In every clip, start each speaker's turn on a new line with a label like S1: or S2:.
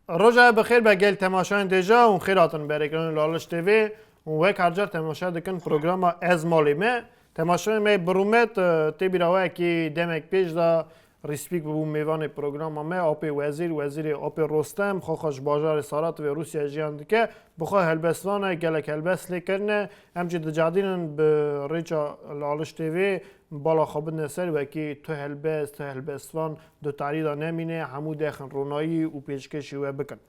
S1: Roja bi xêr be gel temaşayên dêja û xêr hatin berêkirin li Aliş TV û wek her car temaşa dikin programa Ez Malê Me. Temaşayê me bi rûmet tê bîra we kî demek pêş de Rîspîk bû mêvanê programa me Apê Wezîr, Wezîrê Apê Rostem, xwaxa ji bajarê Sarativê Rûsya jiyan dike Bi xwe helbestvan e, gelek helbest lê kirine. Em jî dicadînin bi rêça li aliştê vê bala xwe bidine ser wekî tu helbest, tu helbestvan di tarî de nemîne, hemû dexin ronayî û pêşkêşî we bikin.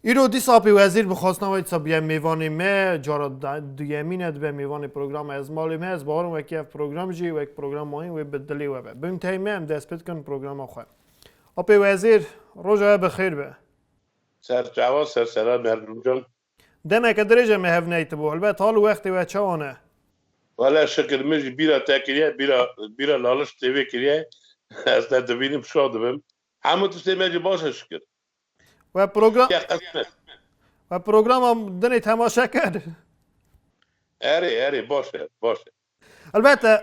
S1: Îro dîsa apê wezîr bi xwestina wê disa biye mêvanê me, cara duyemîn e dibe mêvanê programa Ez malê me, ez bawerim wekî ev program jî wek program mayîn wê bi dilê we be. Bin tey me em dest pê dikin programa xwe. Apê wezîr, roja we bi xêr be. Ser
S2: çawa ser sera bergûcan. Demeke dirêj
S1: e me hev neytibû. Helbet hal û wextê wê çawa ne. Wele
S2: şikir min jî bîra te kiriye, bîra bîra laliş tê wê kiriye. Ez te dibînim şax dibim. Hemû tiştê me jî baş e şikir. We
S1: program Ye qismet.
S2: We programa
S1: dinê temaşe kir.
S2: Erê erê baş e baş e. Elbette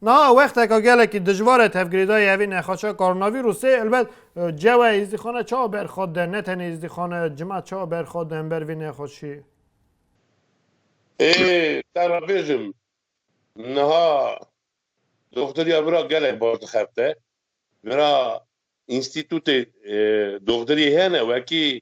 S1: niha wexteke gelekî dijwar e tevgirêdayî evî nexaşa koronavîrûsê. Elbet cewe êzdîxane çawa berxwe de ne tenê êzdîxane cima çawa berxwe de hember vê nexaşî? Ê
S2: te re bêjim niha doxtiriya min re gelek baş dixebite. Min re înstîtûtê doxtiriyê hene wekî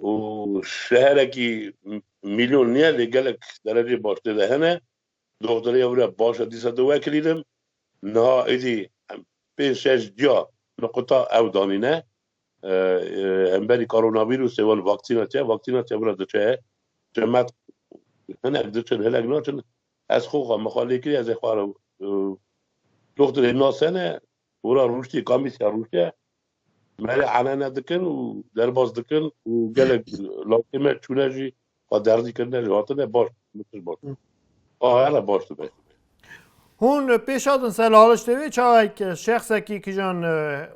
S2: û şeherekî mîlyon niye lê gelek dereceyê baştê de hene. Doktorê ya wî re baş e dîsa tu wekirînim. Niha êdî pênc şeş cuya nuqita ew danîne. Hemberî koronavîrûsê wan vaksîna çi ye? Vaksîna çi ye wî re diçe. Çemet hinek diçin hinek naçin. Ez xwe xwe min xwe lê kirî ez ê xwe re doktorê nas hene Hora rûştê Kamîsya Rûşe merê enene dikin û derbas dikin û gelek lawtê me çûne jî xwe derdî kirine jî hatine baş min tişt baş bû. A here baş dibe. Hûn
S1: pêş hatin ser Laliçtê wê çawek şexsekî kijan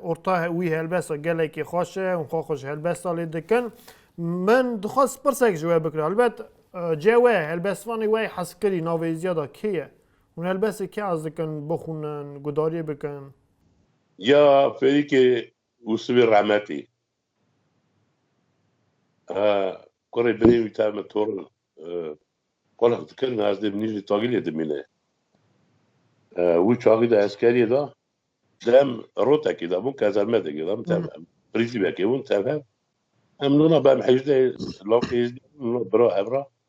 S1: orta wî helbesta gelekî xweş e, hûn xwe xwe ji helbesta lê dikin. Min dixwest pirsek ji we bikim. Helbet cihê we helbestvanê we yê hezkirî navê ziyada kê ye? Hûn helbestê kê hez dikin bixwînin, gudariyê bikin? Ya
S2: Ferîkê û sivê rehmetî. Ha kurê binê wî tevr min tor in. Qulf dikin ez dê minî li tagîlê dimîne. Wî çaxî de eskeriyê da. Dem rotekê de bûn kazermedekê de min tevr. Em prîzîbekê bûn tevr. Em nûna bem hejdeh lawikê hêzdî bûn nûna bira hevra.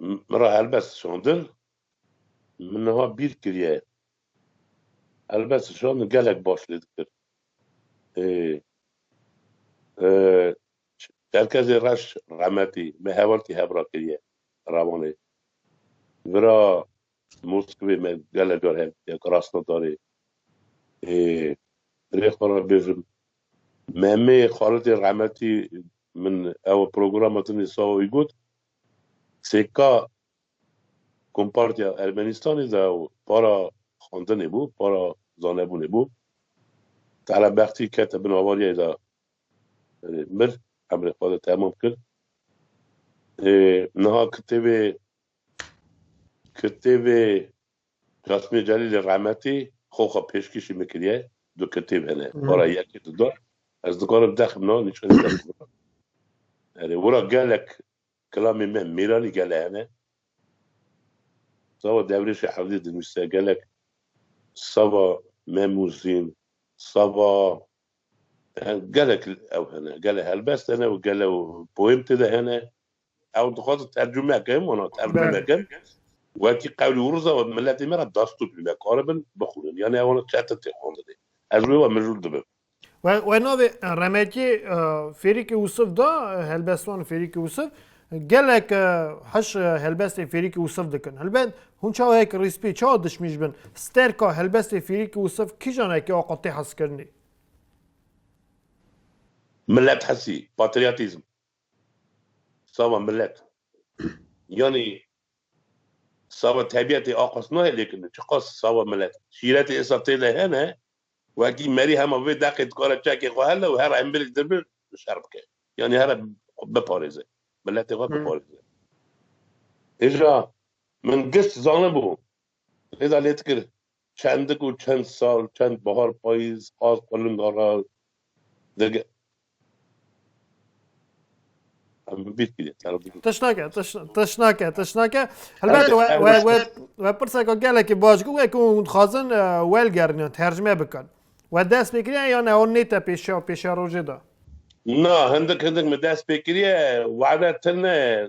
S2: Min re helbest şandin. Min niha bîr kiriye. Helbest şandin gelek baş lê dikir. Çerkezê reş remetî me hevaltî hevra kiriye revanê. Vira Di Moskvê me gelek car hev diya ku rasta darê rê xwe re bêjim. Memê Xalidê Rehmetî min ew programa Dinê Saoyî got, Sêka Kompartiya Ermenîstanê de ew para xwendinê bû, para zanebûnê bû. Tala Bextî kete bin avariyayê de mir, emrê xwe de temam kir. Niha kitêbê Kitêbê Kasîmê Celîlê Rehmetî xwe xwe pêşkêşî min kiriye. Du kitêb hene. Wara yekê tu da. Ez dikarim dexim na nîşanî te bikî wira. Erê wira gelek kilamê me mêranî gele hene. Sava Devrêşê Hewdê dinivîse gelek sava Memûzîn, sava gelek ew hene. Gele helbest hene û gele poem tê de hene. Ew dixwazin tercume bikin, wana tercume bikin. Wekî qewlî û riza we bi miletê me re dastûr bî. Nekaribin bixwînin. Yanî ew wana çetin tê xwendinê. Ez wê wa mijûl dibim. We navê
S1: Remekê Fêrîkê Wisif da Helbestwan Fêrîkê Wisif. Gelek hiş helbestên Fêrîkê Wisif dikin. Helbet hûn çawa hek rîspî, çawa dişmî ji bin. Sterka helbestê Fêrîkê Wisif kîjan e ki axa tê hezkirinê?
S2: Milethesî, patriyatîzm. Sava milet yanî sava tebîetê a qas nayê lêkin çiqas sava milet e. Şîretê îsal tê de hene wekî merî hema vê deqê dikare çekê xwe hele û her embêlek dir bi şer bike yanî here biparêze miletê xwe biparêze. Hêja min giş zanibû lêda lêdikir Çendik û çend sal, çend bahar payîz qaz qulunga ra digirt. Tişnake, tişnake,
S1: tişnake. Helbet we pirseka gelekî baş bû wek hûn dixwazin welgerînin, tercme bikin. We dest pê kiriye yan ew nête pêşiya û pêşerojê de? Na, hindik
S2: hindik min dest pê kiriye, were tune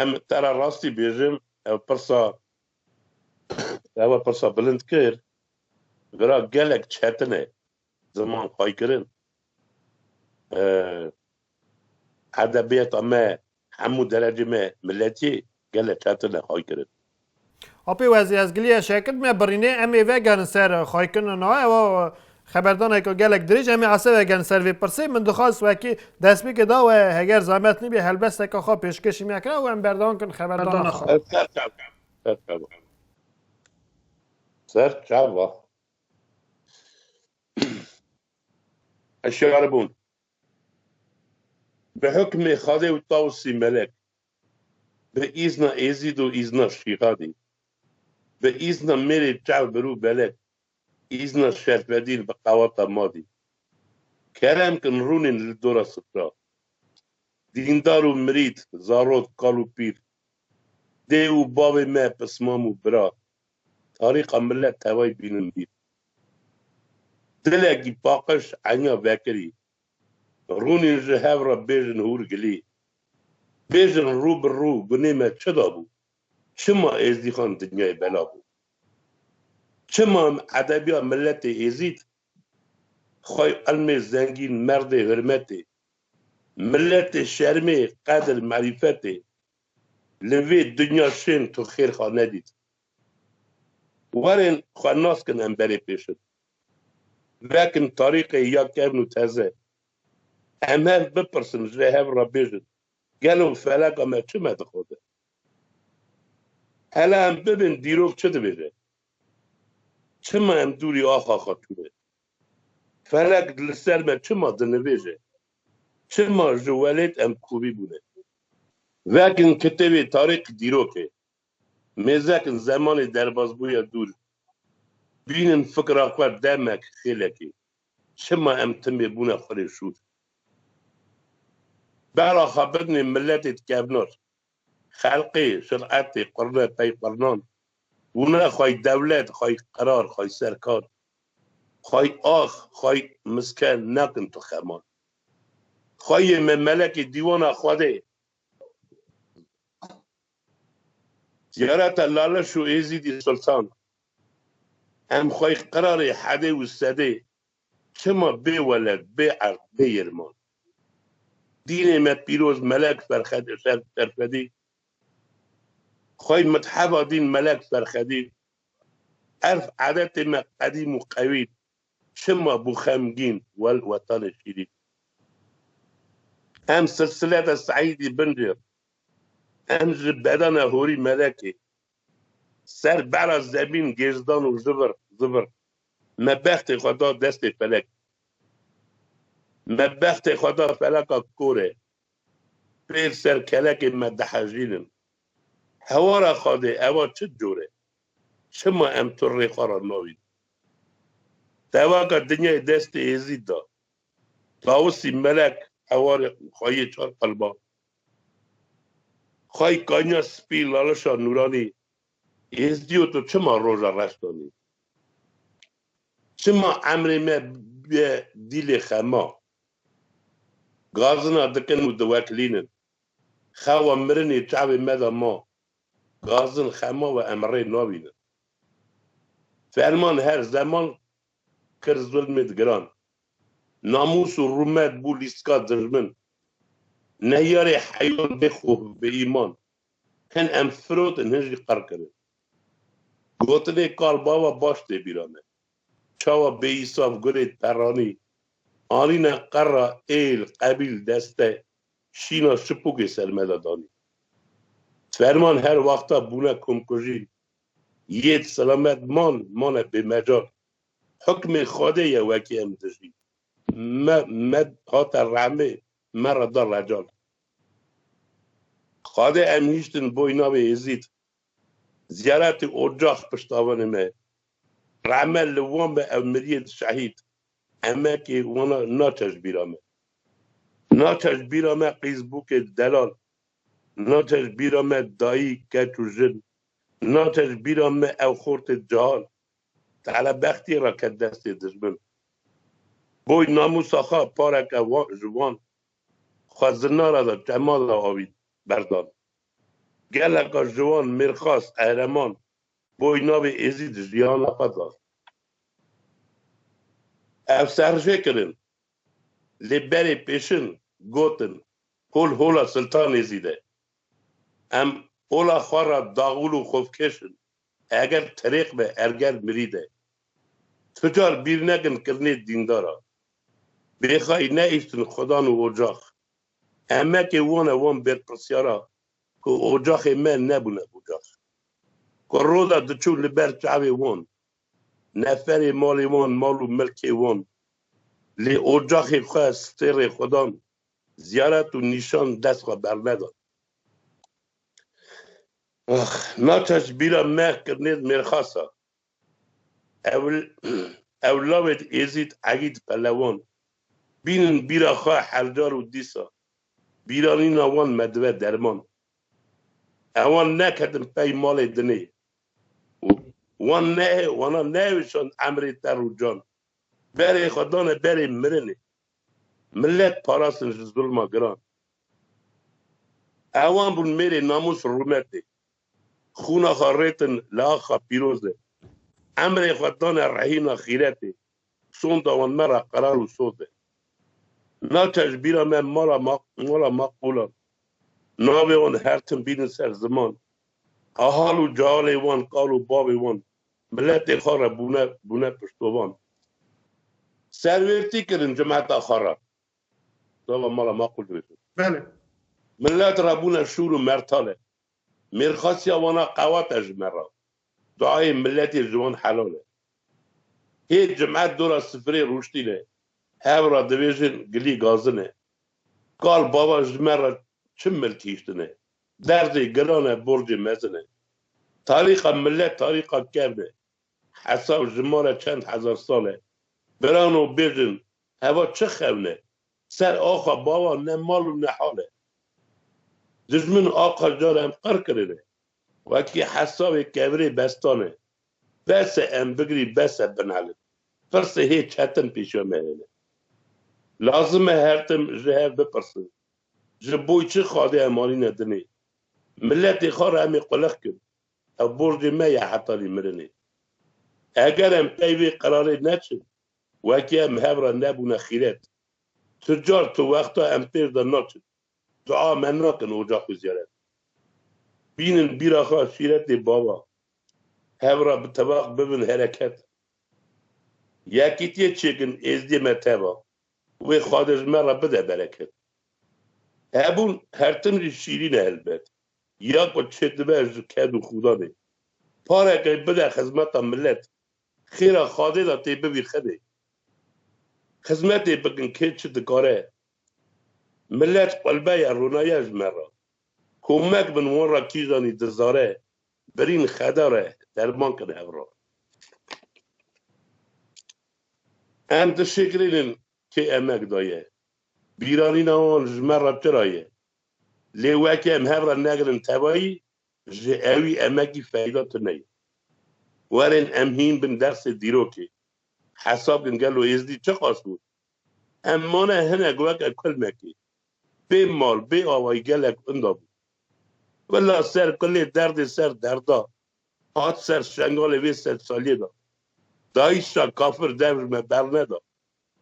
S2: Em te re rastî bêjim ew pirsa te we pirsa bilind kir vira gelek çetin e ziman xwaykirin. Edebiyata me hemû derecê me miletiyê gelek çetin e xwaykirin. Apê
S1: wezî ez giliye şekil me birînê em ê vegerin ser xaykin na ewa xeberdaneke gelek dirêj em ê ese vegerin ser vê pirsê min dixwaz wekî destpêkê da we heger zemet nîbê helbesteke xwe pêşkêşî me kira û em berdewam kirin xeberdana xwe. Ez ser çav bûm. Ser
S2: çav bûm. Ser çav bûm. Ez şeribûm. Bi hukmê Xwedê û Tawusî Melek Bi îzna Êzîd û îzna Şîhadî, bi îzna mêrê çav birû belek, îzna şerfedîn bi qawata madî, kerem kin rûnên li dora sitra. Dîndar û mirîd, zarok, kal û pîl, dê û bavê me, pismam û bira, tarîqa milet tevay bînin bîr. Dilekî paqij enya vekirî, Rûnîn ji hev re bêjin hûr gilî. Bêjin rû bi rû gunê me çi dabû? Çima Êzdîxan dinyayê bela bû? Çima em edebiya miletê Êzîd, xwey ilmê zengîn, merdê hurmetê, miletê şermê, qedir, merîfetê li vê dinya şên tu xêrxa nedît? Warên xwe nas kin hemberê pêşin. Vekin tarîqê ya kevn û teze. Em hev bipirsin ji hev re bêjin gelo feleka me çi me dixwaze? Hela em bibin dîrok çi dibêje? Çima em dûrî axa Xatûn e? Felek li ser me çima dinivêje? Çima ji welêt em kovî bûne? Vekin kitêbê tarîq dîrokê. Mêzekin zemanê derbazbûya dûr, bînin fikra xwe demek xêlekê, çima em timê bûne xwe rê şûr. Bela xebitnê miletê di kevnar, xelqê, şiretê, qurne pey qurnan, bûne xway dewlet, xway qerar, xway serkar, xway ax, xway miske nakin tu xeman. Xwayê me melekê dîwana Xwedê. Ziyareta Laleş û Êzîdî Sultan, Em xwey qirarê hedê û sedê çima bê weled, bê erd, bê yirman. Dînê me pîroz Melek Ferxedê Serfedî, xwey mitheba dîn Melek Ferxedî, erf edetê me qedîm û qewî çima bû xemgîn wel wetanê şîrîn. Em silsile de Seîdî Bin Rê Em ji bedena horî melekê ser bera zemîn gêrz dan û zivir zivir me bextê xwe da destê felek. Me bextê xwe da feleka korê. Pêr ser kelekê me dihejînin. Hewara xadê eva çi cor e? Çima em tu rê xwe ra navîn? Tevaka dinyayê destê Êzîd da. Tawisî melek hewarê xwe yê çar qelban Xway kanya spî lalişa nûranî Êzdî û tu çima roja reş danî? Çima emrê me bûye dîlê xema? Gazina dikin û diweklînin. Xewa mirinê çavê me de ma. Gazin xema we em rê navînin. Ferman her zeman kir zulmê giran, namûs û rûmet bû lîstika dijmin, nehyarê heyan bê xwe bê îman, hin em firotin hin jî qir kirin. Gotinê kal bava baş tê bîra me. Çawa bêîsaf gulê terranî anîne qera êl, qebîl, deste, şîna şipûkê ser me de danî. Ferman her wexta bûne komkujîn Yêd selamet man mane bêmecal. Hukmê Xwedê ye wekî em dijî. Me me hate rehmê me re da recal. Xwedê em hîştin boy navê Êzîd. Ziyaretê ocax piştavanê me. Rehme li wan be ew miriyên şehîd. Emekê wan naçe ji bîra me. Naçe ji bîra me qîzbûkê delal. Naçe ji bîra me dayî keç û jin Naçe ji bîra me ew xortê cihal, tele bextiyê re ket destê dijmin. Boy namûsa xwe pareke ji wan xwe zinara de çema de avît berdan. Geleka ciwan, mêrxas, qehreman boy navê Êzîd jiyana xwe da. Ev serjê kirin, lê berê pêşin gotin, Hol hola Siltan Êzîd e, Em ola xwe re daxwil û xwefkêş in. Eger tirêq be erger mirî de. Tu car bîr nekin kirinê dîndara. Bêxayî neîştin xwedan û ocax. Emekê wan e wan bêrpirsyara ku ocaxê me nebûne ocax. Ku roda diçûn li ber çavê wan. Neferê malê wan mal û milkê wan. Lê ocaxê xwe stêrê xwedan Ziyaret û nîşan dest xwe berneda. Ax, naça ji bîra me kirnêz mêrxasa. Ewil, ew lawêd Êzîd, Egîd, Pelewan, bînin bîra xwe hercar û dîsa. Bîranîna wan me dive derman. Ewan neketin pey malê dinê. Wan ne, wana nehêwişand emrê terr û can. Berê xwe dane berê mirinê. Milet parastin ji zulma giran. Ewan bûn mêrê namûs rûmetê. Xûna xwe rêtin li axa pîrozê. Emrê xwe dane rehîna xîretê. Sonda wan me re qerar û soz e. Naçe ji bîra me mala mala maqbûlan. Navê wan her tim bînin ser ziman. Ahal û cealê wan kal û bavê wan Miletê xwe re bûne bûne piştovan. Serwêrtî kirin cemeta xwe re. Sava mala ma qul dibêjin. Bele.
S1: Milet
S2: re bûne şûr û mertale. Mêrxasiya wan a qewat e ji me re. Duayê miletê ji wan helal e. Hê cim'et dora sifirê rûştîne. Hev re dibêjin gilî gazine. Kal bava ji me re çi miltîştine. Derdê gelan e borcê mezin e. Tarîxa milet tarîxa kevn e. Hesab ji mala çend hezar sal e. Birano bêjin heva çi xewn e? Ser axa bawan ne mal û ne hal e. Dijmin axa jar em qir kirine. Wekî hesabê kevirê bestan e. Bes e em bigirî bes e binelin. Pirsê hê çetin pêşiya me hene. Lazim e her tim ji hev bipirsin. Ji bo çi xadê em anîne dinê? Miletê xwe re em ê qulex kin. Ev borcê me ye heta lê mirinê. Eger em pey vê qerarê neçin, wekî em hev re nebûne xîret. Tu car tu wexta em pêş de naçin. Tu a me nakin oca xwe ziyaret. Bînin bîra xwe şîretê bava. Hev re bi tevaq bibin hereket. Yekîtiyê çêkin êzdiyê me teva. Wê Xwade ji me re bide bereket. Hebûn her tim jî şîrîn e helbet. Ya ku çêdibe ji ked û xûdanê. Pareke bide xizmeta milet. Xêra Xwade de tê bibî xedê. Xizmetê bikin kê çi dikare. Milet qulbe ye rûnaye ji me re. Komek bin wan re kîjanî dizare Birîn xeda re derman kin hevra. Em dişigrînin kê emek daye. Bîranîna wan ji me re tira ye. Lê weke em hevra negrin tevayî ji ewî emekî feyda tune ye. Werin em hîn bin dersê dîrokê. Hesab kin gelo Êzdî çiqas bû Em mane hinek weke kulmekê. Bê mal, bê awayî gelek inda bû. Kula ser kulê derdê ser derda hat ser şengalê vê sedsaliyê de. Dayîşa kafir devr me berneda,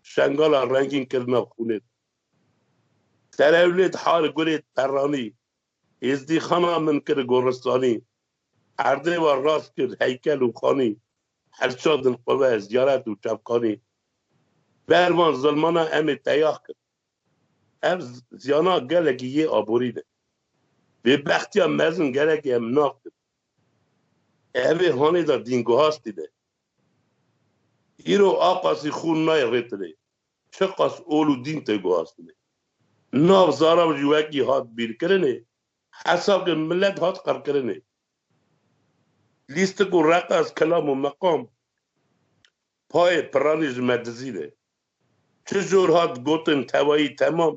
S2: şengala rengîn kirina xûnê de. Terewlêd, Hargurêd, Perranî, Êzdî xana min kir goristanî. Erdê wan rast kir heykel û xanî. Hevşandin qiwe, ziyaret û çavkanî. Ber van zilmana em ê teyax kin. Ev ziyana gelekî yê aborî ne. Bêbextiya mezin gelekî em nav kin. Ev ê hanê de dînguhastî ne. Îro a qasî xûn nayê rê tirê. çiqas ol û dîn tê guhastinê. Nav Zarav jî wekî hat bîrkirinê, hesabkê milet hat qirkirinê. Lîstik û reqas, kelam û meqam payê piranî ji me dizîne. Çi jor hat gotin tevayî temam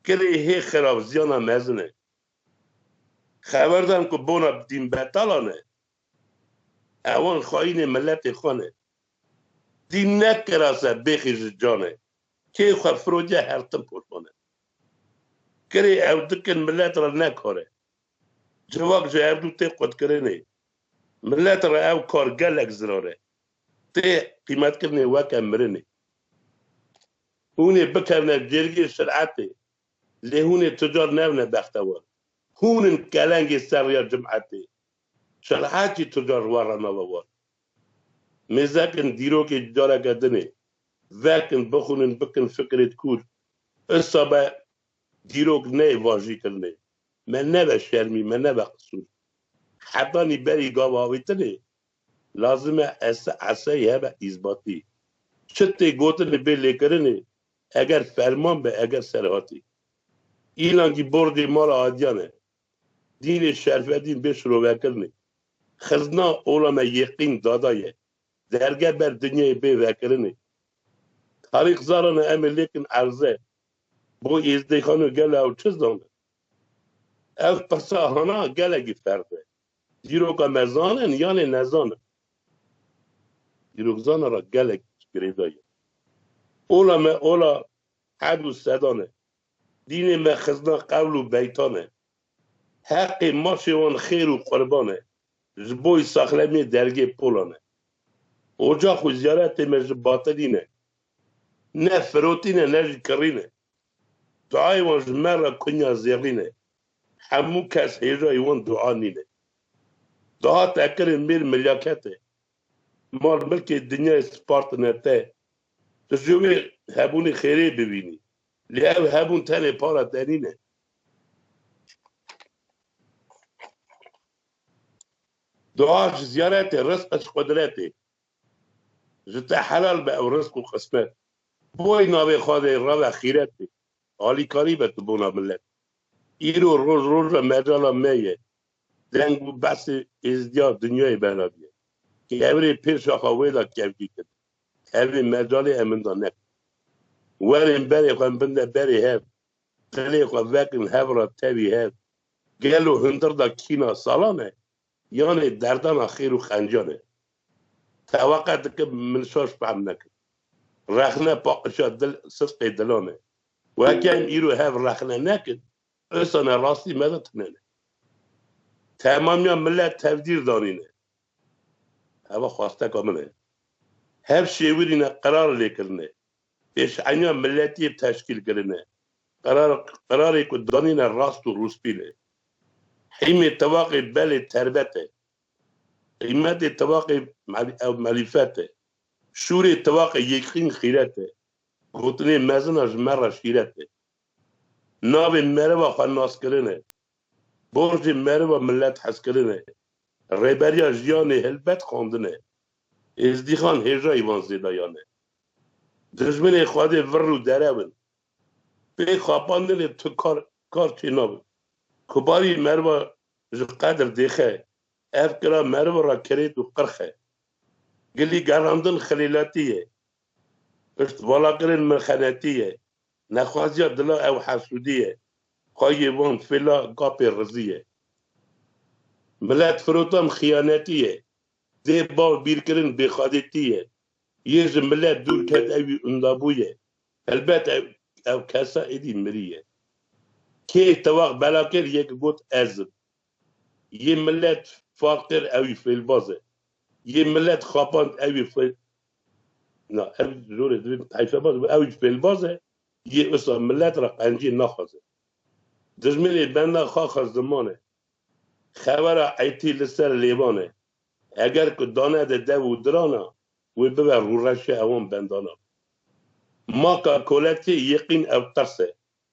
S2: kirê hê xirab ziyana mezin e. Xeberdan ku bona dînbetalan e, Ewan xayînê miletê xwe ne. Dî nekira ser bêxî ji canê. Kê xwe firoce her tim poşane. Kirê ew dikin milet re ne kar e. Civak ji herdu tê qutkirinê. Milet re ew kar gelek zirar e. Tê qîmetkirinê weke mirinê. Hûn ê bikevne cêrgê şiretê. Lê hûn ê tu car newne bextewar. Hûn in kelengê ser rêya cim'etê. Şenhatî Tucar ji wan re nava wan. Mêzek in, dîrokê ji careke din ê. Vek in, bixwînin, bikin fikirê di kûr. Issa be dîrok ne yê vajîkirinê. Me nebe şermî, me nebe qisûr. Hetanî berî gav avêtinê, lazim e ese eseyî hebe îsbatî. Çi tê gotin li bê lêkirinê, eger ferman be, eger serhatî. Înan kî borcê mala adiyan e. Dînê şerfedîn bê şirovekirinê. Xizna ola me yêqîn dada ye. Derge ber dinyayê bê vekirinê. Tarîx zarana em ê lêkin erze. Bo Êzdêxano gelo ew çi zana? Ev qisa hana gelekî ferz e. Dîroka me zanin yanê nezanin. Dîrokzana ra gelek girêda ye. Ola me ola hed û sedan e. Dînê me xizna qewl û beytan e. Heqê mafê wan xêr û qurban e. Ji bo îsaqlemiyê dergê polan e. Ocax û ziyaretê me ji batilî ne. Ne firotîn e ne jî kirîn e. Duayê wan ji me re kunya zêrîn e. Hemû kes hêjayî wan dua nîn e. Dahat ekirin mêr milyaket e. Mal milkê dinyayê spartine te. Tu ji wê hebûnê xêrê bibînî. Lê ev hebûn tenê para tenî ne. Dua ji ziyaretê, rizqa ji qudretê. Ji te helal be ew rizq û qismet. Boy navê xwe dê rave xîret bê. Alîkarî be tu bona milet. Îro roj roja mecala me ye. Deng û behsê êzdiya dinyayê belaviye. Kevirê pêşaxa wê de kevcî kir. Evê mecalê eminda ne. Werên berê xwe bin de berê hev, dilê xwe vekin hev ra tevî hev. Gelo hundir da kîna salan e, yanê derdana xêr û xencan e? Teweqe dikim min şaş fehm nekin. Rexne paqişa dil sidqê dilan e. Weke em îro hev rexne nekin, insane rastî me de tunene. Temamiya milet tevdîr danîne, Heva xwasteka min e. Hev şêwirîna qerar lêkirine, pêşeniya miletî yê teşkîlkirine, qerar qerarê ku danîne rast û rûspîl e. Hîmê tevaqê belê terbet e. Qîmetê tevaqê ew melîfet e. Şûrê tevaqê yêkxîn xîret e. Gotinê mezin a ji me re şîret e. Navê mereva xwe naskirin e. Borcê meriva milet hezkirin e. Rêberiya jiyanê helbet xwendin e. Êzdîxan hêjayî van zêdayan e. Dijminê Xwedê vir û derew in. Pê xapandinê tu kar kar çê nabe. Kubarî meriva ji qedir dêxe. Ev kira meriv ra kirêt û qirx e. Gilî gerandin xilêletî ye. Piştvala kirin mirxenetî ye. Nexwaziya dila ew hesûdî ye. Xwe yê wan fêla gapê rizî ye. Miletfirotan xiyanetî ye. Dê bav bîrkirin bêxadêtî ye. Yê ji milet dûr ket ewî undabû ye. Helbet ew kesa êdî mirî ye. Kê tewax bela kir yek got ez im. Yê milet faqir ew jî fêlbaz e. Yê milet xapand ew jî fêl Na, ev zor e divê heyfebaz bibe. Ew jî fêlbaz e, yê wisa milet re qenciyê naxwaze. Dijminê benda xaxa ziman e. Xewera etî li ser lêvan e. Heger ku danede dev û diran a, wê bibe rûreşa ewan bendanan. Maka koletiyê yê qîn ew qers e.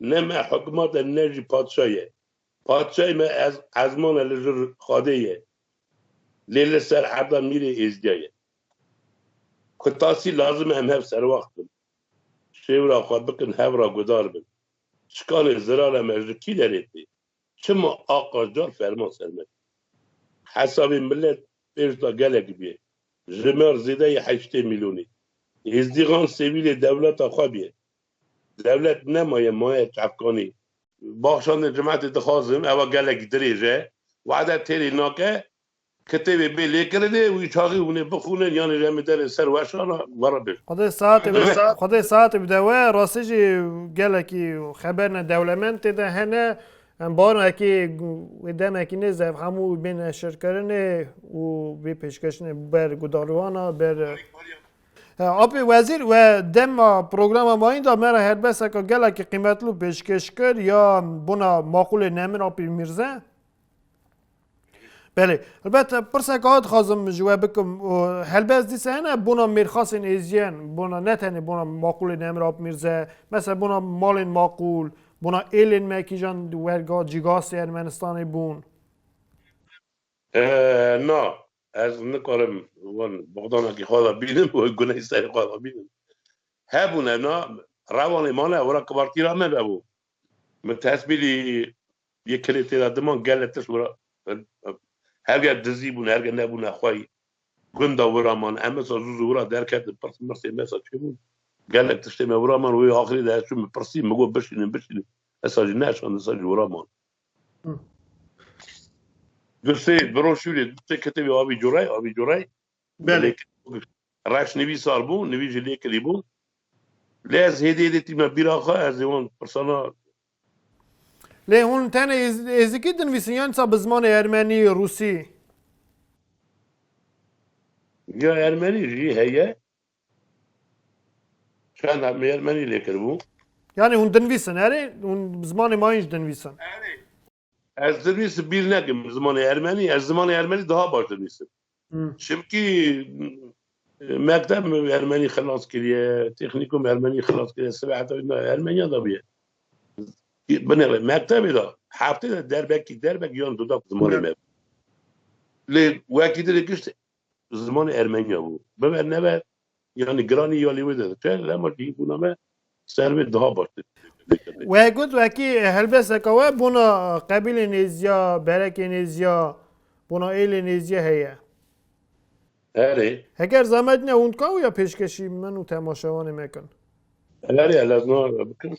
S2: Ne me hikmat e ne jî padşa ye. Padşayê me ez ezman e li jir xadê ye. Lê li ser erda mîrê êzdiya ye. Ku tasî lazim e em hev serwaxt bin. Şêwira xwe bikin hev ra gudar bin. Çikanê zirara me ji kî derê tê? Çima a qajar ferman ser me kir? Hesabê milet pêş da gelek bîye. Ji me re zêdeyê heştê mîlyonê êzdîxan sêwîlê dewleta xwe bîye. Dewlet nemaye maye çavkanî. Baxşandin Cimetê dixwazim ewa gelek dirêj e. Wade têrê nake. Kitêbê bê lêkirinê wî çaxî hûnê bixwînin yanî re min derê ser weşan a were bir. Xwedê saetê bide Xwedê
S1: saetê bide we. Rastî jî gelekî xeberine dewlemend tê de hene. Em bawerin ekê wê demekî nêze ev hemû bên neşirkirinê û vê pêşkêşinê ber guhdarûyan a ber Apê wezîr we dema programa mayîn da me re helbeseka gelekî qîmetli û pêşkêş kir ya bona maqûlê Nemir Apî Mîrze. Belê elbet pirseka hat xazim ji we bikim û helbez dîsa hene bona mêrxasên êziyen bona ne tenê bona maqûlê Nemir Apî Mîrze mesela bona malên maqûl bona êlên me kîjan werga cîgasê Ermenistanê bûn.
S2: Na, Ez nikarim wan bogdanakî xwe da bînim û guneyê serê xwe da bînim. Hebûn ev na rewanê ma ne wira kibartî ra me vebû. Min tesmîlî yê kilê tê da diman gele tişt wira herge dizî bûn herge nebûn nexweyî gunda wira man em wisa zû zû wira derketin pirs mirsê me wisa çêbûn gelek tiştê me wira man wê axirê de ez çûm pirsî min got bişînin bişînin wisa jî neşand wisa jî wira man. Du sê broşûrê, du sê kitêbê avî curey, avî curey. Belê.
S1: Reş
S2: nivî sar bû, nivî jî lê kirî bû. Lê ez hêdî hêdî tîme bîra xwe, ez ê wan pirsana
S1: Lê hûn tenê êzikî dinivîsin yan disa bi zimanê ermenî, rûsî?
S2: Ya ermenî jî heye. Çanda me Yermenî lê kiribû. Yanî hûn dinvîsin
S1: erê? Hûn bi zimanê ma jî dinvîsin.
S2: Ez dinvîsim bîr nekim bi zimanê Ermenî. Ez zimanê Ermenî daha baş dinvîsim. Çimkî mekteb Ermenî xilas kiriye, têxnîkum Ermenî xilas kiriye, sibe heta wî na Ermeniyan de bûye. Binêre mektebê de heftê de derbekî derbek yan dudak zimanê me bû. Lê wekî din ê gişt bi zimanê ermenî ya bû. Bibe nebe yanî giranî ya lê wê de dike lema cihîbûna me ser wê daha baştir dikeve. We
S1: got wekî helbesteke we bona qebîlê nêzîya, berekê nêzîya, bona êlê nêzîya heye.
S2: Erê. Heger zehmet
S1: ne hûn dika wî ya pêşkeşî min û temaşevanê me kin. Erê
S2: lezma bikin.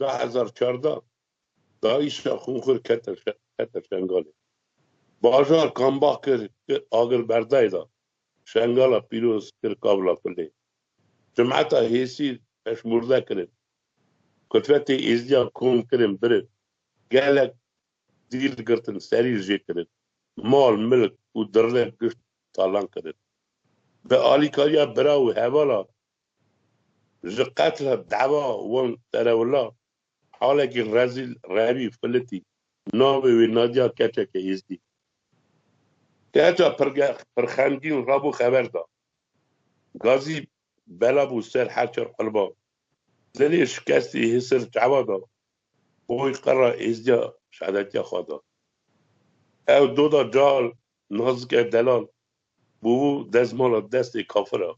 S2: Du hezar çardeh DAIŞ'a xûnxwir kete Şengalê. Bajar Kambax kir ki agir berdayê da. Şengala pîroz kir kavla kulê. Cumeta Hêsîr peşmurde kirin. Kutwetê Êzidiyan kom kirin birin. Gelek dîl girtin serî jê kirin. Mal milk û dirrek gişt talan kirin. Bi alîkariya bira û hevala Ji qetla dava wan serewla halekî rezîl revî filitî navê wê Nadia keçeke êzdî. Keça pirxemgîn rabo xeber da. Gazî bela bû ser her çar qilba. Dilê şikestî hisir çawa da. Boy qira êzdiya şehadetiya xwe da. Ew doda cal, nazike delal Bo dezmala destê kafir a.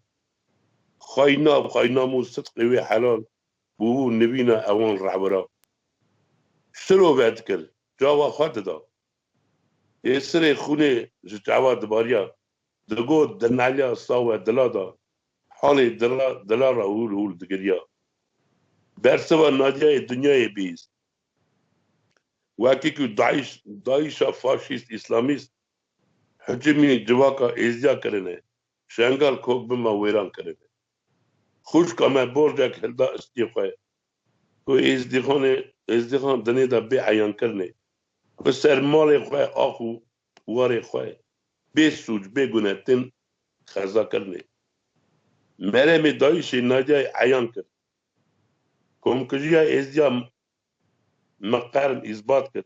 S2: Xayna xayna mû sidqê wê helal bo nivîna ewan rewira. Siro vedikir, cava xwe dida. Yê sirê xûnê ji çawa dibariya, digot dinelya sawe dila da, halê dira dila ra hûl hûl digiriya. Bersiva Nadiyayê dinyayê bihîst. Wekî ku daiş, dayişa faşîst îslamîst Hicimî civaka Êziya kirine, Şengal kok bi me wêran kirine. Xûşka me borcek hilda istî xwe ku Êzdîxanê Êzdîxan dinê de bê eyan kirine bi ser malê xwe ax û warê xwe bê sûc bê gune tên xeza kirine. Meremê dayîşê Naydiyayê eyan kir. Komkujiya Êzdiya me qern îsbat kir.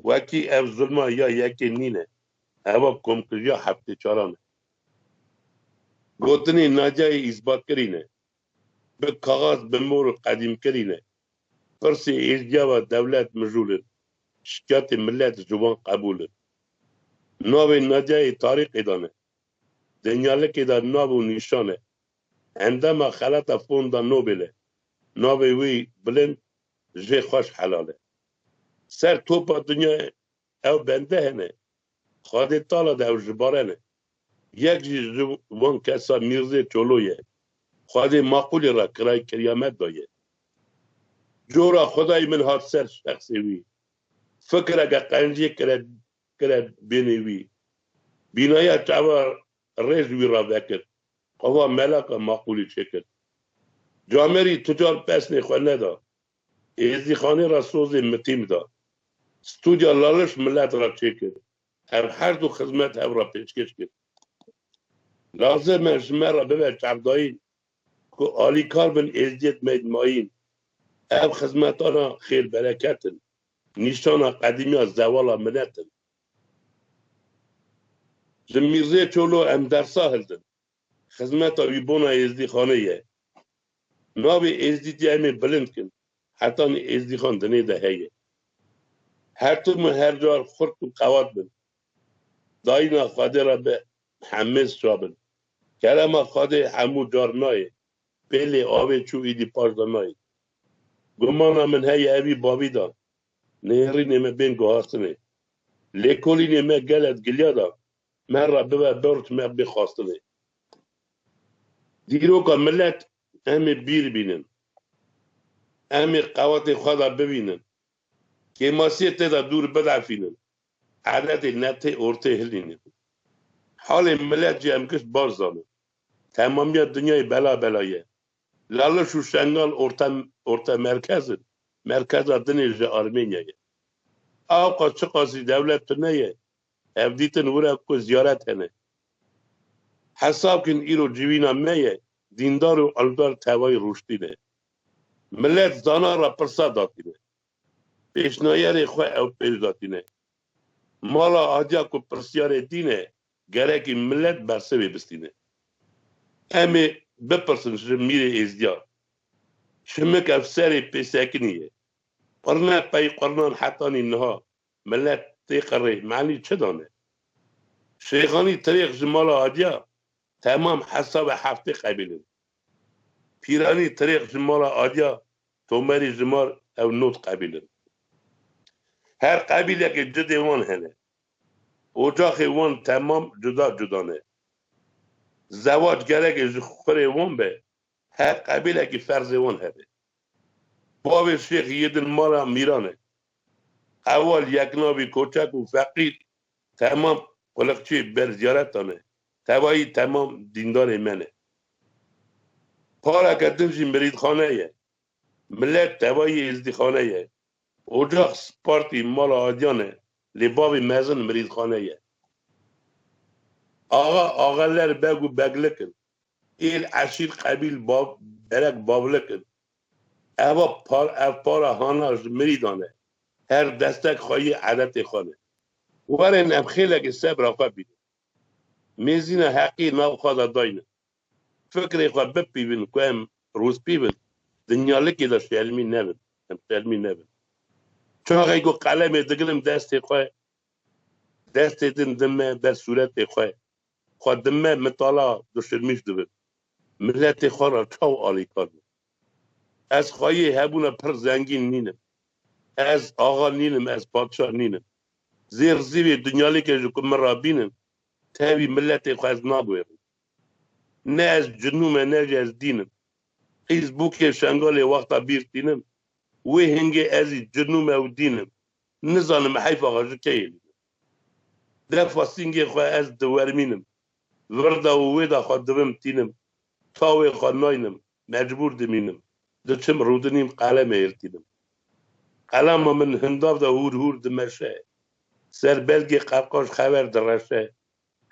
S2: Wekî ev zilma ya yekê nîne, heva komkujiya heftêçaran e. Gotinên Nadiayê îsbatkirî ne. Bi kaxaz, bi mor û qedîmkirî ne. Pirsê êzdiya ve dewlet mijûl in, şikayetê milet ji wan qebûl in. Navê Nadiayê tarîxê de ne. Dinyalikê de nav û nîşan e. Endama xelata Fonda Nobel e. Navê wî bilind, jê xweş helal e. Ser topa dinyayê ew bende hene. Xwedê tala de ew jibarene. Yek jî ji wan kesan Mîrzê Çolo ye. Xwedê maqûlê re kirayê kiryamet daye. Cora xwedayê min hat ser şexsê wî. Fikireke qencî kire kire bênê wî. Bînaya çawa rê ji wî re vekir. Ava melaka maqûlê çêkir. Camerî tu car pesnê xwe neda. Êzîxanê re sozê mitîm da. Studya Laliş milet re çêkir. Ev her du xizmet hev re pêşkêş kir. Lazim e ji me re bibe çavdayîn ku alîkar bin êzdiyet meyîd mayîn. Ev xizmetana xêr bereket in. Nîşana qedîmiya zevala milet in. Ji Mîrzê Çolo em dersa hildin. Xizmeta wî bona êzdîxanê ye. Navê êzdî dê em ê bilind kin. Hetanî êzdîxan dinê de heye. Her tim û her car xurt û qewat bin. Dayîna Xwedê re bi hemêz çabin. Kerema Xwedê hemû car nayê. Pêlê avê çû îdî paş de nayê. Gumana min heye ev î bavî da. Nêrînê me bên guhastinê. Lêkolînê me gele digilya da. Me re bibe bert me bê xwastinê. Dîroka milet em ê bîr bînin. Em ê qewetê xwe de bivînin. Kêmasiyê tê de dûr bidefînin. Eredê ne tê ortê hilînin. Halê milet jî em giş baş zanin. Temamiya dinyayê bela bela ye. Laliş û Şengal orte orte merkez in. Merkeza dinê ji Armênya ye. Awqas çiqasî dewlet tune ye, Ev dîtin wira ku ziyaret hene. Hesab kin îro civîna me ye dîndar û ildar tevayî rûştîne. Milet zana ra pirsa datîne. Pêşnayerê xwe ew pêş datîne. Mala adiya ku pirsiyarê dîne gerekî milet bersivê bistîne. Em ê bipirsin ji Mîrê Êzdiyan. Şimik ev serê pêsekinî ye. Qurne pey qurnan hetanî niha Milet tê qirrê manî çi dane? Şêxanî tirêx ji mala Adiya temam hesabê heftê qebîl in. Pîranî tirêx ji mala Adiya Tomerî ji mal ew nod qebîl in. Her qebîlekê cidê wan hene. Ocaxê wan temam cuda cuda ne. Zewac gerek e ji xurê wan be Her qebîlekî ferzê wan hebe. Bavê Şêx Yedin mala Mîran e. Qewal yek navî koçak û feqîr temam quliqçê ber ziyaretan ne. Tevayî temam dîndarê me ne. Pareke din jî mirîdxane ye. Milet tevayî êzdîxane ye. Ocax Spartî mala Adiyan e lê bavê mezin mirîdxane ye. Axa, axeler, beg û beglik in. Êl, eşîr, qebîl, bav, derek, bavlik in. Eva par, ev para hana ji mirî dan e. Her destek xwe yê edetê xwe ne. Werin em xêlekê sebra xwe bînin. Mêzîna heqî nav xwe de dayne. Fikrê xwe bipîvin ku em rûspîv in, dinyalikê de şermî nebin. Em şermî nebin. Çaxê ku qelemê digirim destê xwe, destê din din me ber sûretê xwe. Xwe di me mitala duşirmîş dibin. Miletê xwe re çaw alîkar bûn. Ez xweyê hebûna pir zengîn nînim. Ez axa nînim, ez padşah nînim. Zêr zîvê dunyalêkê ji ku min re bînin, tevî miletê xwe ez nabwêrim. Ne ez cinûm e ne jî ez dîn im. Qîz bûkê Şengalê wexta bîr tînim, wê hingê ez î cinûm e û dîn im. Nizanim heyfa xwe ji keyê lînim. Defa sîngê xwe ez diwermînim. Virda û wêda xwe dibim tînim. Tawê xwe naynim, mecbûr dimînim. Diçim rûdinîm qelemê hêltînim. Qelema min hindav de hûr hûr dimeşe. Ser belgê qerqaş xewer direşe.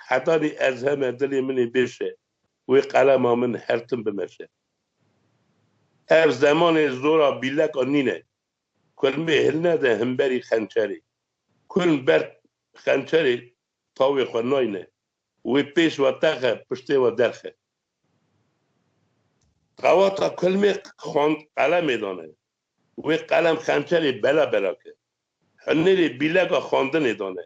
S2: Hetanî ez heme dilê min ê bêşe. Wê qelema min her tim bimeşe. Ev zemanê zora bîleka nîne. Kurmê hilne de himberî xençerê. Kurm ber xençerê tawê xwe nayne. Wê pêş ve texe, piştê ve derxe. Qewata kurmê xand qelemê dane. Wê qelem xençerê bela bela kir. Hunêrê bîlega xandinê dane.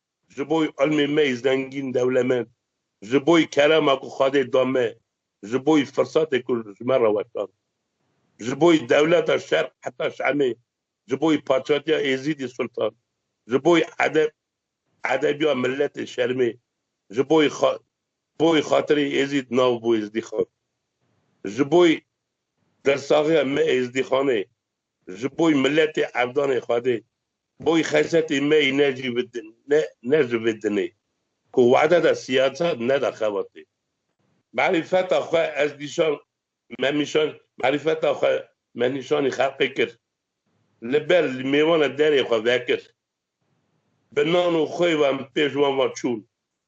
S2: Ji bo îlmê me yê zengîn, dewlemend, ji bo kerema ku Xwedê da me, ji bo firsatê ku ji me re weşand, ji bo dewleta Şerq heta Şamê, ji bo paçatiya Êzîdî Sultan, ji bo edeb, edebiya miletê Şermê, ji bo bo xatirê Êzîd nav bû Êzdîxan, ji bo dirsaxiya me Êzdîxanê, Ji boy miletê evdanê Xwedê, boy xesetê me yê ne jî ne ne ji vê dinê ku wade de siyasat neda xebatê. Merîfeta xwe ez nîşan me nîşan merîfeta xwe me nîşanî xelqê kir. Li ber li mêwane derê xwe vekir. Bi nan û xwê ve em pêş wan ve çûn.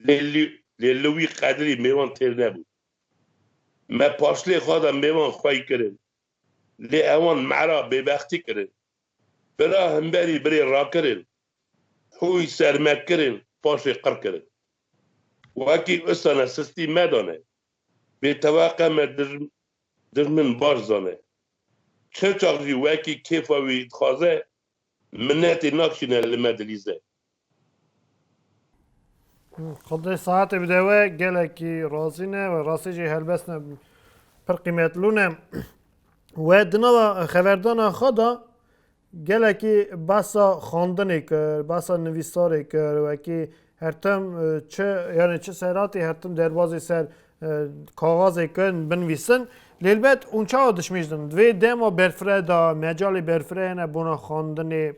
S2: Lê lî lê li wî qedrî mêwan têr nebû. Me paşlê xwe de mêwan xwey kirin. Lê ewan mera bêbextî kirin. Bira himberî birê rakirin, hûy serme kirin paşê qir kirin. Wekî usane sistî medane. Bêteweqe me dijmin baş zane. Çirçax jî wekî kêfa wî dixwaze Minetê nakşîne li me dilîze.
S1: Xwedê saetê bide we gelekî razî ne we rastî jî helbest ne pir qîmetlû ne. We di nava xeverdana xwe de gelekî behsa xandinê kir, behsa nivîsarê kir wekî Hertem çi yani çi seratê hertem derbazê ser kaxazê kin binvîsin lêlbet hûn çawa dişmêjdin vê dema berfire da mecalê berfire hene bona xandinê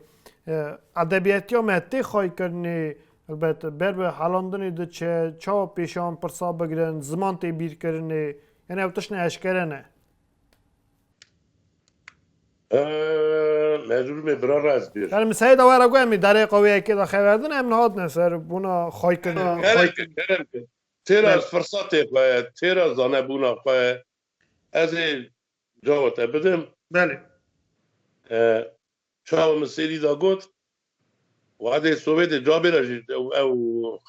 S1: edebiyetiya me tê xaykirinê elbet ber bi helandinê diçe çawa pêşan pirsa bigirin ziman tê bîrkirinê yani ew tişt ne eşkere ne
S2: Ehm, ez rûmê bira raz bir. Yani misayê de were got em ê
S1: derê qewiyekê de xeverdin em nehatine ser bûna xaykirina. Keremke, Keremke.
S2: Têra Bel. firsatê xwe, têra zanebûna xwe ez ê cava te bidim. Belê.
S1: Ehm,
S2: çawa min sêrî da got Wadê Sowêtê cavê re jî ew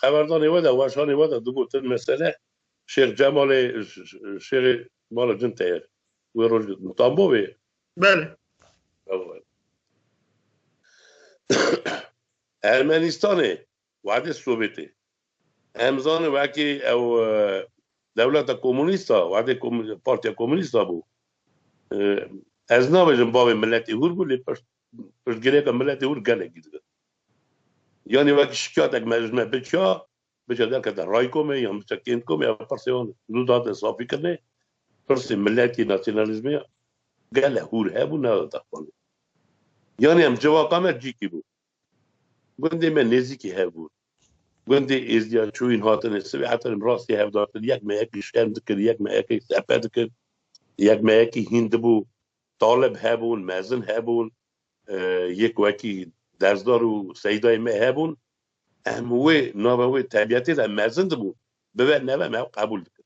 S2: xeberdanê we de weşanê we de digotin mesele Şêx Cemalê Şêxê Mala Cin te ye. Wê roj gotin. Tambo wê? Belê.
S1: Ew e.
S2: Ermenistanê Wehdê Sovêtê. Em zanin wekî ew dewleta komûnîst a, wehdê Partiya Komûnîst a bû. Ez nabêjim bavê miletê hûr bû lê piştgirêka miletê hûr gelekî dike. Yanî wekî şikyatek me ji me biçiya, biçiya derkete raykomê yan biçiya kêntkomê ew pirsê wan zû dihate safîkirinê. Pirsê miletî, nasyonalîzmê gele hûr hebû, nedate xwendin. Yanî em civaka me cîkî bû. Gundê me nêzîkî hev bû. Gundê êzdiya çûyîn hatine sivê heterê min rastî hev datin. Yek meyekî şerm dikir, yek meyekî sepe dikir, yek meyekî hîn dibû. Talib hebûn, mezin hebûn, yek wekî dersdar û seydayê me hebûn. Em wê nava wê tebiyetê de mezin dibûn. Bibe nebe me ew qebûl dikir.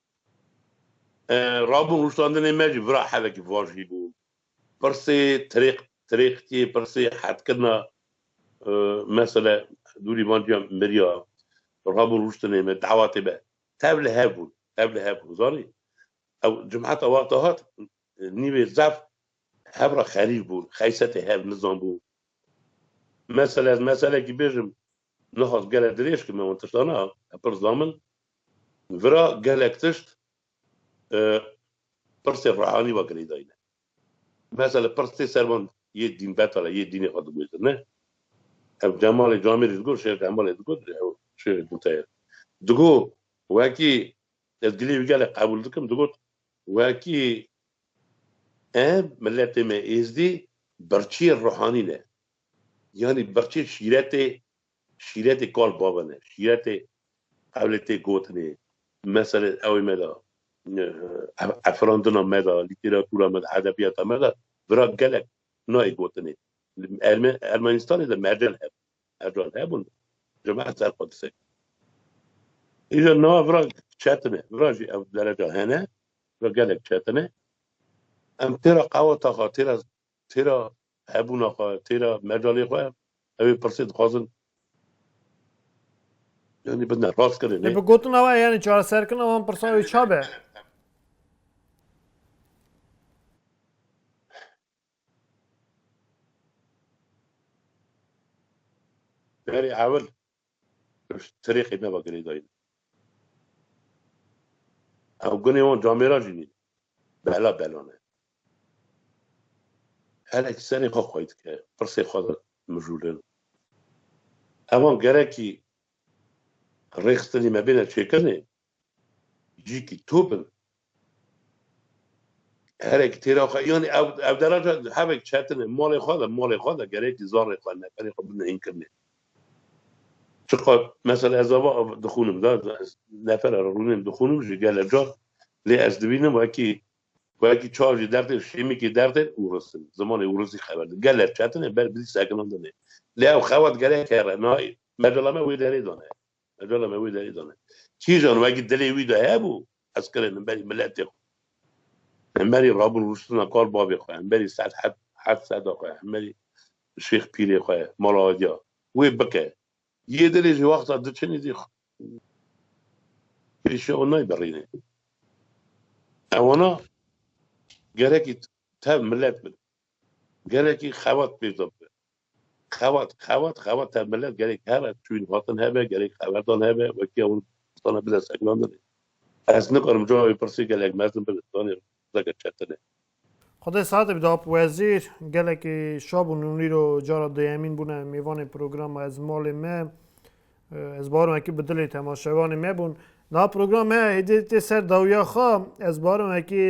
S2: Rabûn rûştandinê me jî vira helekî vaj hî bû. Pirsê tirêq tirêqîtiyê, pirsê hetkirina mesele dûrî van ciya miriya rabûn rûştinê me dewatê me tev li hev bûn, tev li hev bûn zanî. Ew cumeta wexta hat nîvê zaf hev re xerîf bûn, xeysetê hev nizanbû. Mesele ez meselekî bêjim. Nihas gelek dirêj kir me wan tiştan a pir zamin. Vira gelek tişt pirsê rehanî va girêdayîne. Mesele pirs tê ser van yê dînbetal e, yê dînê xwe digwêzine. Ev Cemalê Camêrî digot, Şêx Cemalê digot, ew şêxê din te ye. Digot wekî ez gilê wî gelek qebûl dikim, digot wekî em miletê me êzdî birçîyê rehanî ne. Yanî birçî şîretê şîretê kal bavê ne. Şîretê ewlê tê gotinê, meselê ewê me de efirandina me de, lîtêratûra me de, edebiyata me de vira gelek nayê gotinê. Li Ermenistanê de mercan hebûn. Mercan hebûn cemaet ser xwe disekîn. Îja niha vira çetine. Vira jî ew dereca hene. Vira gelek çetine. Em têra qewata xwe, têra Têra hebûna xwe, têra mecalê xwe ew ê pirsê dixwazin yanî bidine rastkirinê. Lê bi gotina we
S1: yanî çareserkirina wan pirsan wê ça be?
S2: Berê ewil Pişt tirêxê nava girêdayîn. Ew gunê wan camêra jî nîn. Bela belan e. Herek serê xwe xwey dike. Pirsê xwe de mijûlin. Evan gerekî rêxistinê me bêne çêkirinê, Jîkî tu bi herek têra xwe yanî ew ew deraja hevek çetinê malê xwe de malê xwe de gerekî zarê xwe neferê xwe binihînkirine. Çiqas mesela ez ava dixûnim da ez nefera re rûnên dixûnim jî gelek car lê ez dibînim wekî wekî çar jî dertên şêmîkê dertên û risin zimanê û risî xeber din gelek çetinê ber bi sekinandinê lê ew xewet gerek here nayê mecala me wê derê dane Qegala me wê derê dane. Kîjan wekî dilê wî de hebû, ez kirê hemberî miletê xwe, hemberî rabûn rûştina kal bavê xwe, hemberî sed heb heft seda xwe, hemberî şêx pîrê xwe, mala adiya wê bike. Yê dilê jî wexta diçinî zî pêşiya wan nayê birînê. Ewana gerekî tev milet bin. Gelekî xebat pêşda bibe. Xebat, xebat, xebat her milet gelek hebe, çûyîn hatin hebe, gelek xeberdan hebe, wekî ewil distana bide sekilandinê. Ez nikarim cawê wê pirsê gelek mezin bi distanê re zeke çetine. Xwedê
S1: sehatê bide ap wezîr. Gelekî şa bûn û nîro cara duyemîn bûne mêvanê programa Ez malê me. Ez barim wekî bi dilê temaşevanê me bûn. Niha programa me hêdî tê ser dawiya xwe. Ez barim wekî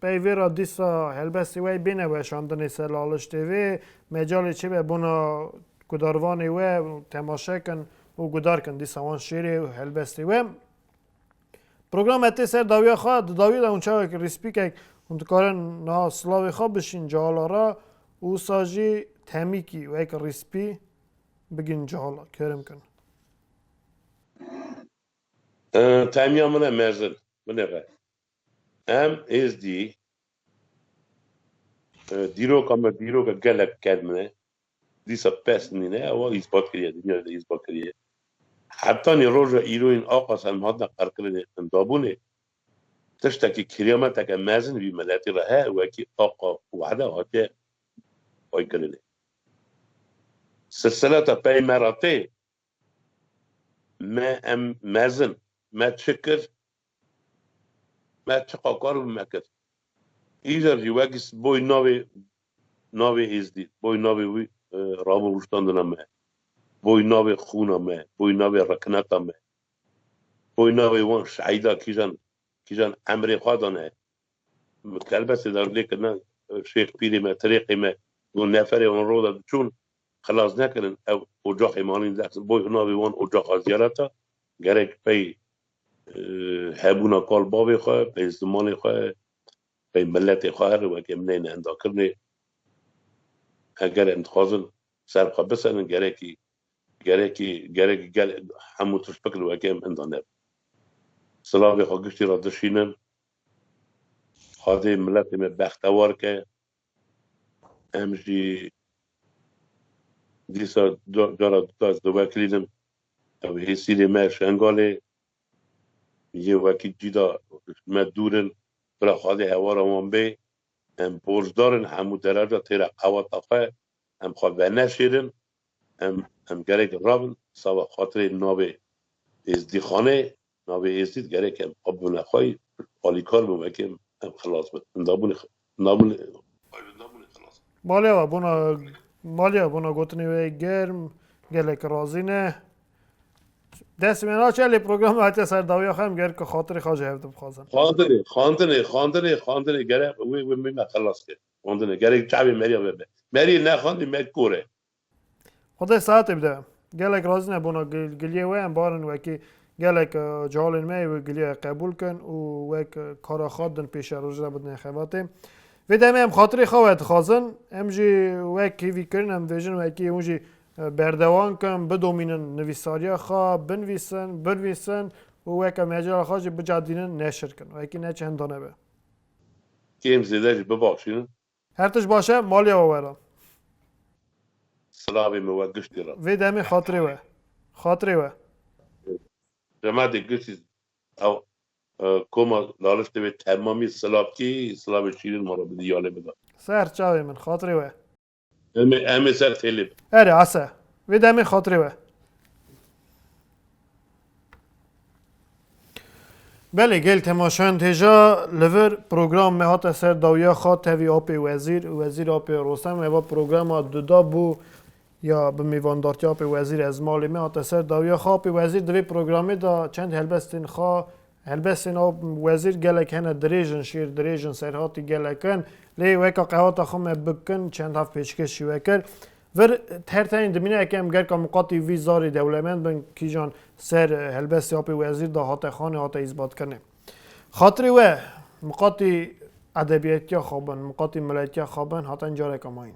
S1: Peyvê re dîsa helbestê we bêne weşandinê ser laliştê vê mecalê çi be bona gudarvanê we temaşe kin û gudar kin dîsa wan şêrê û helbestê we. Program etê ser dawiya xwe, di dawiyê de hûn çawek rîspîkek hûn dikarin niha silavê xwe bişîn cihala re û wisa jî temîkî wek rîspî bigin cihala kerim kin.
S2: Temiya min e mezin, binêre. Em Êzdî dîroka me dîroka gelek germ e. Dîsa pes nîne ewa îspat kiriye dinya de îspat kiriye. Heptanî roja îro yên axa ser me hatine qerkirin ê qindabûnê. Tiştekî kiriyameteke mezin vî miletî re heye wekî axa wehde hatiye xwekirinê. Silsileta pey me re tê me em mezin me çi kir Me çi qakar bi me kir. Îcar jî wekî boy navê navê Êzdî, boy navê wî rabo rûştandina me, boy navê xûna me, boy navê rekineta me, boy navê wan şehîda kîjan kîjan emrê xwe dane. Min kelbesê de lê kirina şêx pîrê me, tirêqê me got neferê wan roda diçûn xilas nekirin ew ocaxê malên dexsin. Boy navê wan ocaxa zîyaret e. Gerek pey hebûna kal bavê xwe, pey zimanê xwe, pey miletê xwe here weke min heyne endakirinê. Eger em dixwazin ser xwe biserin gerekî gerekî gerek gel hemû tişt bikin weke em inda ne. Silavê xwe giştî re dişînin. Xwedê miletê me bextewar ke. Em jî dîsa cara duka ez diwekirînim. Ew hê sînê me Şengalê yên wekî cîda ji me dûr in. Bila xwedê hewara wan bê. Em borcdar in hemû dereja têra qeweta xwe. Em xwe veneşêrin. Em em gerek rabin sava xatirê navê Êzdîxanê, navê Êzdîd gerek em xwe bibine xwe yî, alîkar bin wekê em, em xilas bin. Navbûnê navbûnê xwe yî navbûnê xilas bin. Malê we bona
S1: malê we bona gotinê wê germ gelek razî ne. Dest wê naçe lê programa hatiye ser dawiya xwe em gerek xatirê xwe ji hev dibixwazin. Xandinê xandinê xandinê xandinê
S2: gerek wê wê mîna xilas kir. Xwendine gerek çavê Merî re be. Merî nexwendî
S1: me kor e. Xwedê sehetê bide. Gelek razî ne bona giliyê we em barin wekî gelek cehalên me ê giliyê qebûl kin û wek kara xwe din pêşe roj re bidine xebatê. Vê demê em xatirê xwe we dixwazin. Em jî wek hêvî kirin em dibêjin wekî hûn jî berdewan kin bidomînin nivîsariya xwe binvîsin, binvîsin û weke mecala xwe jî bicadînin neşir kin. Wekî ne çi henda nebe. Kêm
S2: zêde jî bibexşînin. Her tişt baş e,
S1: maliya we were. Silavê
S2: me we giştî re. Vê demê xatirê we.
S1: Xatirê we.
S2: Remedê giştî ew koma laliştê wê temamî silavkî, silavê şîrîn ma re bidî yanê bida. Ser çavê min,
S1: xatirê we. Em
S2: ê ser têlê bin. Erê ase.
S1: Vê demê xatirê we. Belê gel temaşayan têja li vir program me hate ser dawiya xwe tevî apê wezîr û wezîr apê Rostem heva programa duda bû ya bi mêvandartiya apê wezîr ez malê me hate ser dawiya xwe apê wezîr di vê programê de çend helbestên xwe Helbestê na wezîr gelek hene dirêj in, şêr dirêj in, serhatî gelek in. Lê weka qehata xwe me bikin çend hav pêşkêş jî wekir. Vir her tenê dimîne eke em gerka miqatî vî zarê dewlemend bin kîjan ser helbestê apê wezîr de hate xanê hate îsbatkirinê. Xatirê we miqatî edebiyetiya xwe bin, miqatî miletiya xwe bin haten careka mayîn.